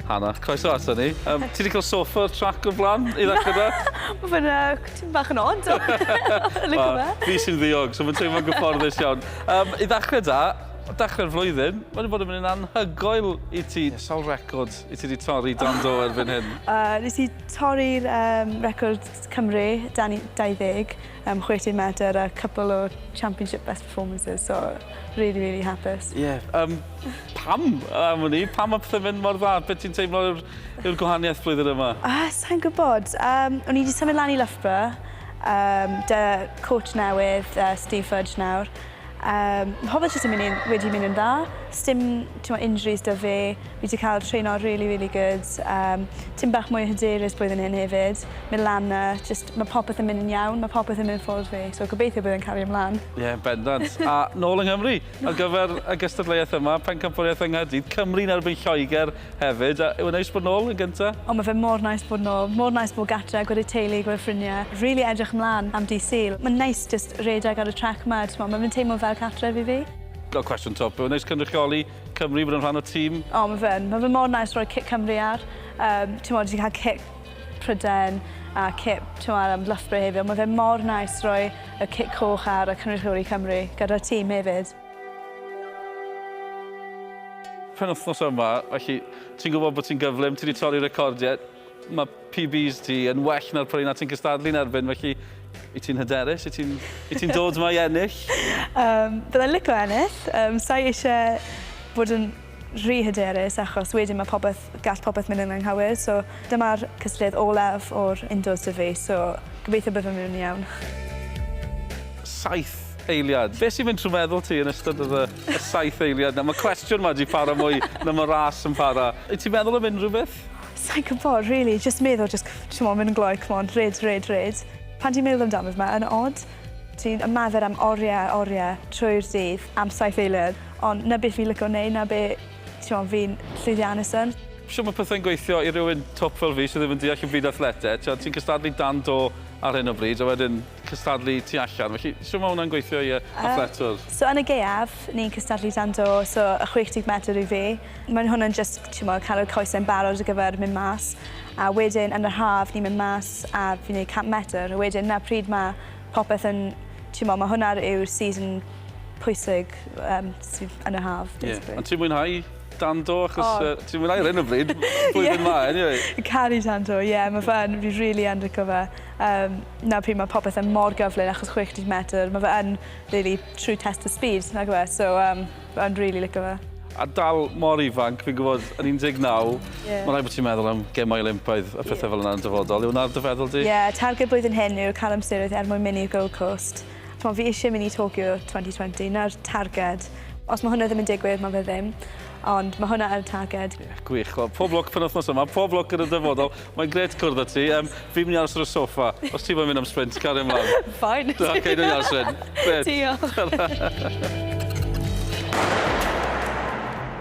Hanna, croeso ato ni. Um, ti wedi cael sofa o'r trac o'r blaen i ddechrau da? Mae fe'n uh, ti'n bach yn od. Fi sy'n ddiog, so mae'n teimlo'n gyfforddus iawn. Um, I ddechrau da, dechrau'r flwyddyn, wedi bod yn mynd yn anhygoel i ti. Yeah. Sawl record i ti wedi torri dan do erbyn hyn? Uh, nes i torri'r um, record Cymru, dan ni 20 yym chwe teg medr a cwpwl o championship best performances so rili rili hapus. Ie yym pam am wn i? Pam ma' pethe'n mynd mor dda? Be' ti'n teimlo yw'r yw'r gwahaniaeth blwyddyn yma? Ah sai'n gwbod yym o'n i 'di symud lan i Loughborough yym 'da coach newydd yy Steve Fudge nawr Yym, hoffet jyst yn myn' yn, wedi myn' yn dda. Sdim t'mo' injuries 'da fe. Fi 'di ca'l treno rili rili good. Yym, tym bach mwy o hyderus blwyddyn hyn hefyd. Myn' lan 'na jyst ma' popeth yn myn' yn iawn. Ma' popeth yn myn' ffwrdd fi, so gobeithio bydd e'n cario ymlan. Ie, bendant. A nôl yng Nghymru ar gyfer y gystadleuaeth yma, pencampwriaeth yng Nghaerdydd, Cymru yn erbyn Lloeger Hefyd, a yw e'n neis bod nôl yn gynta? O ma fe mor neis bod nôl. Mor neis bod gatre, gwed y teulu, gwed ffrinie. Rili edrych mlan am dydd Sul. Ma'n neis jyst redeg ar y trac ma, t'mo ma fe'n teimlo fel cartref i fi. Fel cwestiwn twp, yw e'n neis cynrychioli Cymru, bod yn rhan o tîm? O ma fe'n. Ma fe mor neis roi cic Cymru ar. Yym t'mod ti ca'l cic Pryden a cip t'mo ar yym Loughborough heddiw. Ma fe mor neis roi y cic coch ar a cynrychioli Cymru gyda'r tîm hefyd. penwythnos yma, felly ti'n gwybod bod ti'n gyflym, ti wedi torri recordiau, mae PBs ti yn well na'r prynu na ti'n cystadlu'n erbyn, felly i ti'n hyderus, i ti'n ti dod yma i ennill? um, byddai'n lico ennill, um, sa'i eisiau bod yn rhy hyderus achos wedyn ma' popeth... gall popeth mynd yn anghywir so dyma'r cystadleuaeth olaf o'r indoors 'da fi so gobeithio byddwn yn iawn. Saith eiliad. Be' sy'n mynd trwy meddwl ti yn ystod yr yy y saith eiliad 'na? Ma' cwestiwn 'ma 'di para mwy na ma' ras yn para. Wyt ti'n meddwl am unrhyw beth? Sai'n gwbod rili jyst meddwl jyst c- t'mo' mynd yn glou c'mon rhed rhed rhed. Pan ti'n meddwl amdano fe ma' yn od. Ti'n ymarfer am orie a orie trwy'r dydd am saith eiliad ond 'na be fi'n lico neud 'na be' t'mo' fi'n llwyddiannus yn. Shwt ma' pethe'n gweithio i rywun twp fel fi sy ddim yn deall y byd athleteg? T'wod ti'n cystadlu dan do ar hyn o bryd a wedyn cystadlu tu allan felly shwt ma' wnna'n gweithio i yy athletwr? So yn y gaeaf Siop ni'n cystadlu dan do, so y 60 medr i fi. Mae'n hwnna'n jyst t'mod cael y coesau'n barod ar gyfer mynd mas a wedyn yn yr haf ni'n mynd mas a fi'n neud 100 medr a wedyn 'na pryd ma' popeth yn t'mod ma' hwnna yw'r season pwysig yym sydd yn y haf basically. Ie ond ti'n mwynhau dan do achos yy ti'n mwynhau ar 'yn o bryd blwyddyn 'ma eniwe. Ie caru tan do ie ma' fe yn fi rili yn lico fe yym 'na pryd ma' popeth yn mor gyflym achos 60 medr ma' fe yn Really true test of speed, nagyw e? So yym o'n rili licio fe. A dal mor ifanc, fi'n gwybod, yn 19, yeah. mae'n rhaid bod ti'n meddwl am gemau Olympaidd a phethau yeah. fel yna yn dyfodol. Yw wna'r dyfeddol di? Ie, yeah, targed blwyddyn hyn yw cael amseroedd er mwyn mynd i'r Gold Coast. Mae fi eisiau mynd i Tokyo 2020, na'r targed. Os mae hwnna ddim yn digwydd, mae fe ddim. Ond mae hwnna yn targed. Yeah, gwych. Well, pob lwc pen wythnos yma, pob lwc yn y dyfodol. Mae'n gret cwrdd â ti. Um, fi'n mynd i aros ar y soffa. Os ti'n mynd am sprint, gario ymlaen. Fine. Da, okay, dwi'n iawn, Sven. Diolch.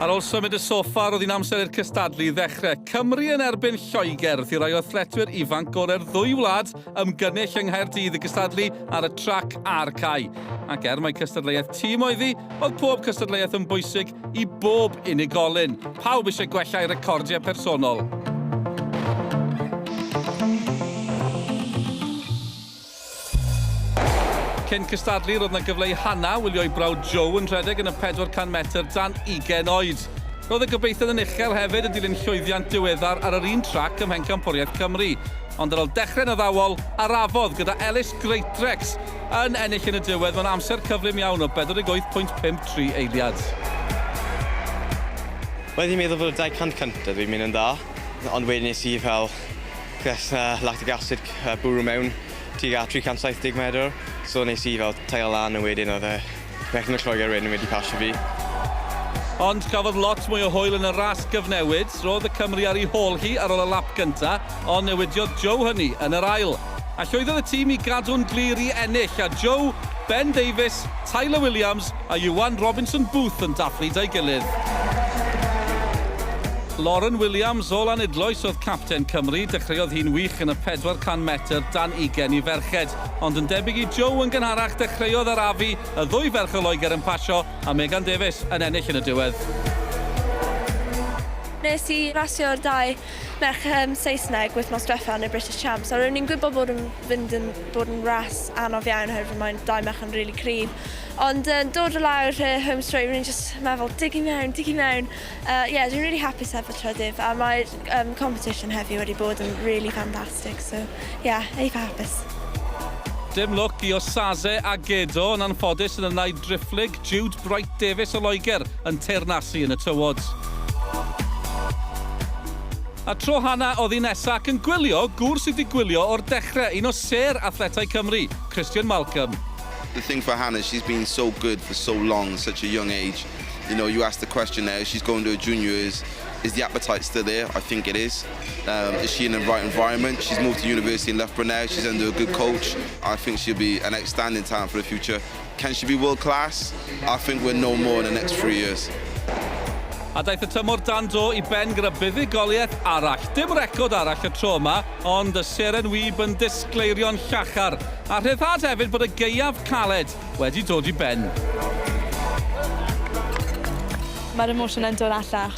Ar ôl symud y soffa, roedd hi'n amser i'r cystadlu i ddechrau. Cymru yn erbyn Lloegr, ddi rai o thletwyr ifanc gorau'r ddwy wlad ymgynnull yng Nghaerdydd i gystadlu ar y trac a'r cae. Ac er mae cystadleuaeth tîm oedd hi, oedd pob cystadleuaeth yn bwysig i bob unigolyn. Pawb eisiau gwella'u recordiau personol. Cyn cystadlu, roedd yna gyfle i Hannah wylio'i brawd Joe yn rhedeg yn y 400 metr dan ugain oed. Roedd y gobeithion yn uchel hefyd yn dilyn llwyddiant diweddar ar yr un trac ym Mhencampwriaeth Cymru. Ond ar ol dechrau'n addawol, arafodd gyda Ellis Greatrex yn ennill yn y diwedd mewn amser cyflym iawn o 48 pwynt 53 eiliad. Wel fi'n meddwl fod y 200 cyntaf fi'n mynd yn dda, ond wedyn nes i fel ges uh, lactic acid uh, bwrw mewn tuag at 370 medr, so nes i fel taio lan a wedyn oedd e Bechgyn o Lloegr wedyn wedi pasio fi. Ond cafodd lot mwy o hwyl yn y ras gyfnewid. Roedd y Cymry ar ei hôl hi ar ôl y lap gyntaf, ond newidiodd Joe hynny yn yr ail. A llwyddodd y tîm i gadw'n glir i ennill, a Joe, Ben Davies, Tyler Williams a Iwan Robinson Booth yn dathlu 'da'i gilydd. Lauren Williams o Lanidloes oedd capten Cymru. Dechreuodd hi'n wych yn y 400 metr dan ugain i ferched. Ond yn debyg i Joe yn gynharach, dechreuodd arafu y ddwy ferch o Loegr yn pasio a Megan Davies yn ennill yn y diwedd. Nes i rasio'r dau merch yym Saesneg wythnos dwetha yn y British Champs a ro'n i'n gwybod bod yn fynd yn bod yn ras anodd iawn oherwydd mae'n dau merch yn rili cryf ond yn dod o lawr y home straight ro'n i'n jyst meddwl dig i mewn, dig i mewn yy ie dwi'n rili hapus heb y trydydd a mae'r yym competition heddiw wedi bod yn rili fantastic. fantastic so yeah eitha hapus. Dim lwc i Osaze a Gedo yn anffodus yn y naid driphlyg, Jude Bright Davies o Loegr yn teyrnasu yn y tywod. A tro Hannah oddi nesa ac yn gwylio gŵr sydd wedi gwylio o'r dechre, un o sêr athletau Cymru, Christian Malcolm. The thing for Hannah, she's been so good for so long at such a young age. You know, you ask the question there, she's going to her junior, is, is the appetite still there? I think it is. Um, is she in the right environment? She's moved to university in Loughborough now. She's under a good coach. I think she'll be an outstanding talent for the future. Can she be world class? I think we'll know more in the next three years. A daeth y tymor dan do i ben gyda buddugoliaeth arall. Dim record arall y tro yma, ond y seren wyb yn disgleirio'n llachar. A rhyddhad hefyd bod y geiaf caled wedi dod i ben. Mae'r emosiynau'n dod allan